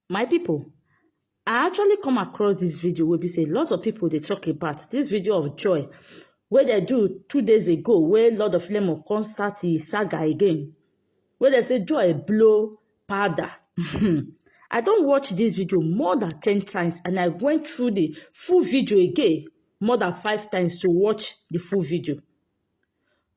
my people i actually come across this video where be say lots of people they talk about this video of joy where they do two days ago where lord of lemon come start the saga again where they say joy blow powder i don't watch this video more than ten times and i went through the full video again more than five times to watch the full video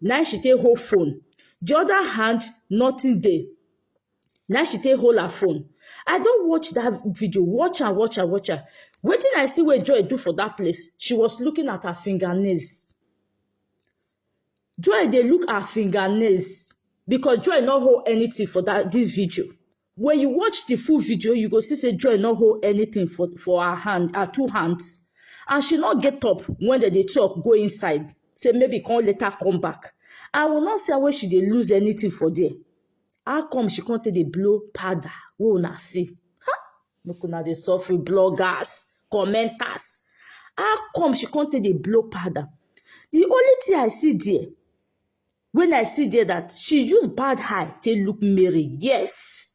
Na im she take hold phone. The other hand, nothing dey. Na im she take hold her phone. I don watch that video, watch am, watch am, watch am. Wetin I see wey Joy do for that place, she was looking at her fingernails. Joy dey look her fingernails because Joy no hold anything for that this video. When you watch the full video, you go see say Joy no hold anything for, for her hand, her two hands. And she not get up when they, they talk, go inside. Say maybe come later come back. I will not say where she dey lose anything for there. How come she can't take the blow powder? We una see. Ha! Make una dey suffer bloggers, commenters. How come she can't take the blow powder? The only thing I see there, When I see there that she use bad eye take look Mary, yes.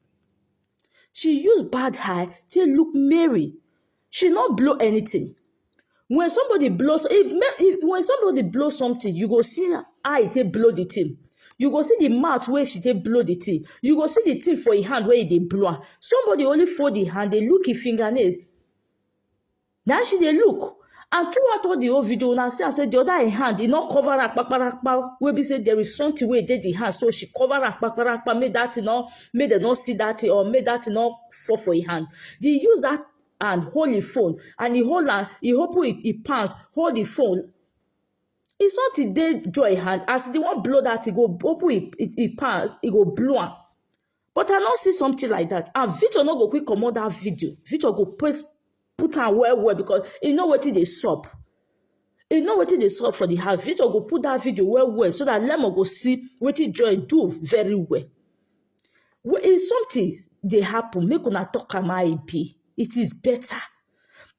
She use bad eye take look Mary. She not blow anything. When somebody blows, if, if when somebody blow something, you go see eye take blow the thing. You go see the mouth where she take blow the thing. You go see the thing for her hand where they blow. Somebody only fold the hand, they look his fingernail. na she dey look and throughout all the whole video una see am say the other im hand e no cover am kpakparakpa wey be say there is something wey dey the hand so she cover am kpakparakpa make that thing no make dem no see that thing or make that thing no fall for im hand the use that hand hold im phone and he hold am he open im im pants hold the phone if something dey joy hand as the one blow that he go open him him him pants he go blow am But I no see something like that. And Victor no go quick comot that video. Victor go press put am well well because e know wetin dey sup. E know wetin dey sup for the house. Victor go put that video well well so that Lemon go see wetin Joy do very well. Well, if something dey happen, make una talk am how e be. It is better.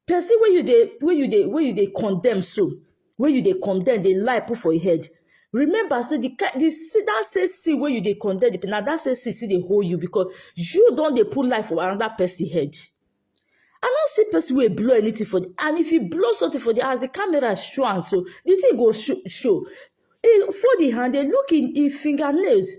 Person wey you dey wey you dey wey you dey condemn so, wey you dey condemn dey lie put for your head remember say the kind the see that same see wey you dey condemn the na that same see still dey hold you because you don dey put life for another person head i no see person wey blow anything for the and if you blow something for the as the camera show am so the thing go show show he fold him hand dey look him him fingernails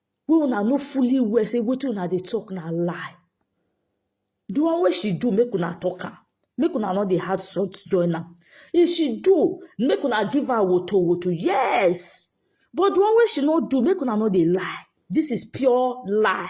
wey una no fully well say wetin una dey talk na lie the one wey she do make una talk am make una no dey add salt join am if she do make una give am woto woto yes but the one wey she no do make una no dey lie this is pure lie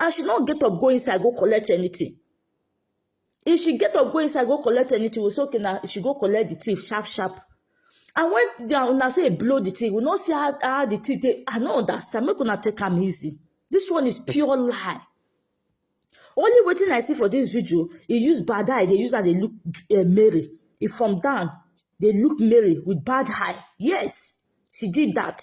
and she no get up go inside go collect anything if she get up go inside go collect anything we say okay na she go collect the thief sharp sharp and when the una say e blow the thing we no see how how the thing dey i no understand make una take am easy this one is pure lie only wetin i see for this video e use bad eye dey use am dey look uh, mary e from down dey look mary with bad eye yes she did that